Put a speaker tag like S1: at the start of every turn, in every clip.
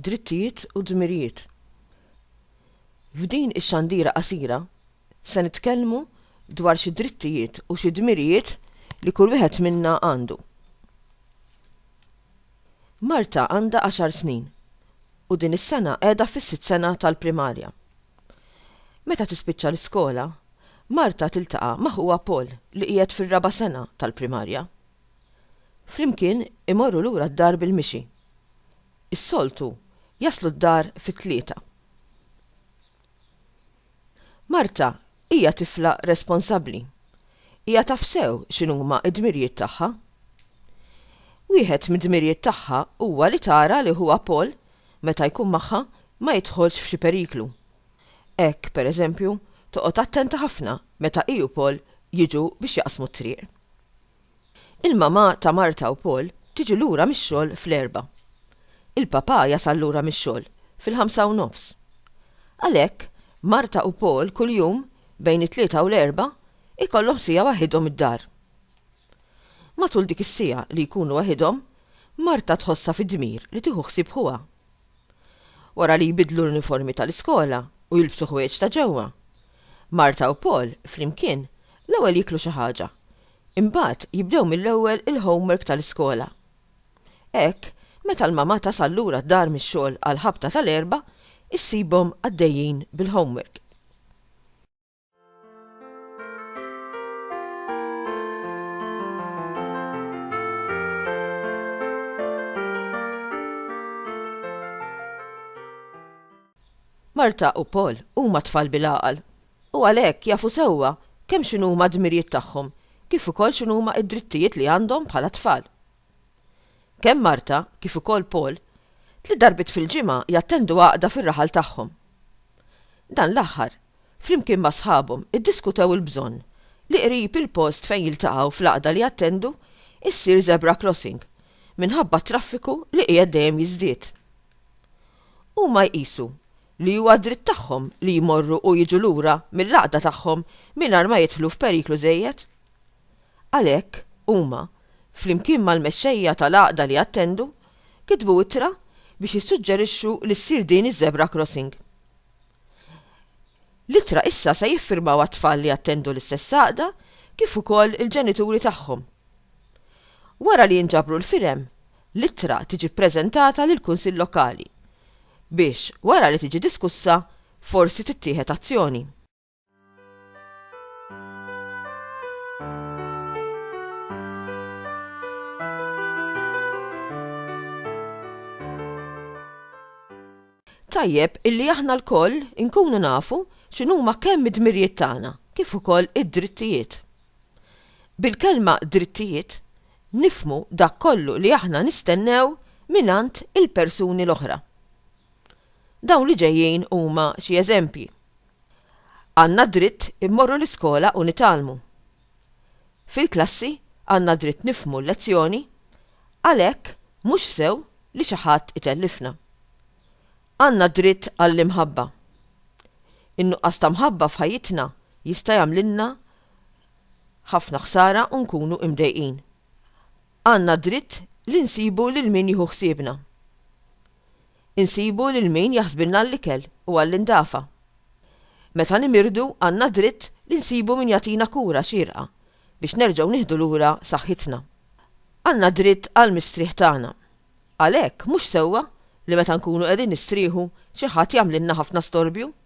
S1: Drittijiet u dmirijiet. F'din ix-xandira qasira se nitkellmu dwar xi drittijiet u xi dmirijiet li kull wieħed minna għandu. Marta għandha għaxar snin u din is-sena qiegħda fis-sitt sena tal-primarja. Meta tispiċċa l-iskola, Marta tiltaqa' ma' ħuha Paul li qiegħed fir-raba' sena tal-primarja. Flimkien imorru lura d-dar bil-mixi. Is-soltu jaslu d-dar fit-tlieta. Marta hija tifla responsabbli. Hija taf sew x'inhuma d-dmirjiet tagħha. Wieħed mid-dmirjiet tagħha huwa li tara li ħuha Paul, meta jkun magħha, ma jidħolx f'xi periklu. Hekk, per eżempju, toqgħod attenta ħafna meta hi u Paul jiġu biex jaqsmu t-triq. Il-mamà ta' Marta u Paul tiġi lura mix-xogħol fl-erbgħa. Il-papà jasal lura mix-xogħol fil-ħamsa u nofs. Għalhekk, Marta u Paul kuljum, bejn it-Tlieta u l-Erbgħa, ikollhom siegħa waħidhom id-dar. Matul dik is-siegħa li jkunu waħidhom, Marta tħossha fi dmir li tieħu ħsieb ħuha. wara li jbiddlu l-uniformi tal-iskola u jilbsu ħwejjeġ ta' ġewwa. Martha u Paul, flimkien, l-ewwel jieklu xi ħaġa. Imbagħad jibdew mill-ewwel il-homework tal-iskola. Hekk, meta l-mamà tasal lura d-dar mix-xogħol għall-ħabta tal-Erbgħa, issibhom għaddejjin bil-homework. Marta u Paul huma tfal bil-għaqal u għalhekk jafu sewwa kemm x'inhuma d-dmirijiet tagħhom kif ukoll x'inhuma d-drittijiet li għandhom bħala tfal. Kemm Marta kif ukoll Paul tliet darbiet fil-ġimgħa jattendu għaqda fir-raħal tagħhom. Dan l-aħħar, flimkien ma' sħabhom iddiskutew il-bżonn li qrib il-post fejn jiltaqgħu fl-għaqda li jattendu ssir zebra crossing minħabba t-traffiku li qiegħed dejjem jiżdied. Huma jqisu li huwa dritt tagħhom li jmorru u jiġu lura mill-għaqda tagħhom mingħajr ma jidħlu f'periklu żejjed. Għalhekk, huma, flimkien mal-mexxejja tal-għaqda li jattendu, kitbu ittra biex jissuġġerixxu li ssir din iż-żebra krossing. L-ittra issa se jiffirmawha t-tfal li jattendu l-istess għaqda kif ukoll il-ġenituri tagħhom. Wara li jinġabru l-firem, l-ittra tiġi ppreżentata lill-Kunsill Lokali, biex, wara li tiġi diskussa, forsi tittieħed azzjoni. Tajjeb illi aħna lkoll inkunu nafu x'inhuma kemm id-dmirijiet tagħna kif ukoll id-drittijiet. Bil-kelma drittijiet nifhmu dak kollu li aħna nistennew mingħand il-persuni l-oħra. Dawn li ġejjin huma xi eżempji. Għandna d-dritt immorru l-iskola u nitgħallmu. Fil-klassi għandna d-dritt nifhmu l-lezzjoni, għalhekk mhux sew li xi ħadd itellifna. Għandna d-dritt għall-imħabba. In-nuqqas ta' mħabba f'ħajjitna jista' jagħmlilna Ħafna ħsara u nkunu imdejqin. Għandna dritt li nsibu lil min jieħu ħsiebna. Insibu lil min jaħsbilna għall-ikel u għall-indafa. Meta nimirdu għandna dritt li nsibu min jagħtina kura xierqa biex nerġgħu nieħdu lura saħħitna. Għandna dritt għall-mistrieħ tagħna. Għalhekk mhux sewwa li meta nkunu qegħdin nistrieħu xi ħadd jagħmlilna ħafna storbju.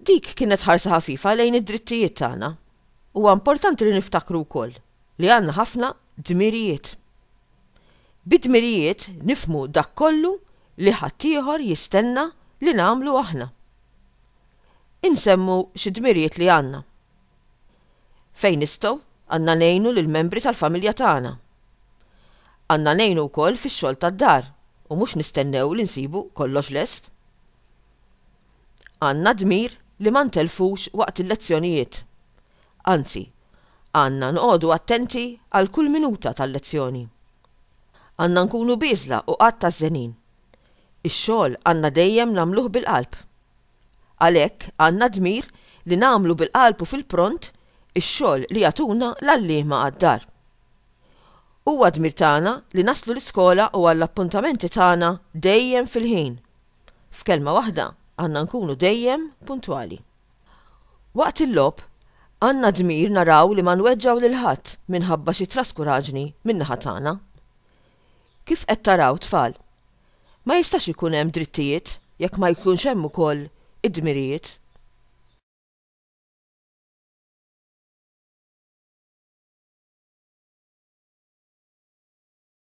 S1: Dik kienet ħarsa ħafifa lejn id-drittijiet tagħna. Huwa importanti li niftakru wkoll li għandna ħafna dmirijiet. Bi dmirijiet nifhmu dak kollu li ħaddieħor jistenna li nagħmlu aħna. Insemmu xi dmirijiet li għandna. Fejn nistgħu, għandna ngħinu lill-membri tal-familja tagħna. Għandna ngħinu wkoll fix-xogħol tad-dar u mhux nistennew li nsibu kollox lest. Għandna d-dmir li ma ntellfux waqt il-lezzjonijiet. Anzi, għandna nqogħdu attenti għal kull minuta tal-lezzjoni. Għandna nkunu bieżla u qatt għażżenin. Ix-xogħol għandna dejjem nagħmluh bil-qalb. Għalhekk għandna d-dmir li nagħmlu bil-qalb u fil-pront ix-xogħol li jagħtuna l-għalliema għad-dar. Huwa dmir tagħna li naslu l-iskola u għall-appuntamenti tagħna dejjem fil-ħin. F'kelma waħda, għandna nkunu dejjem puntwali. Waqt il-logħob, għandna d-dmir naraw li ma nweġġgħu lil ħadd minħabba xi traskuraġni min-naħa tagħna. Kif qed taraw, tfal? Ma jistax ikun hemm drittijiet jekk ma jkunx hemm ukoll id-dmirijiet.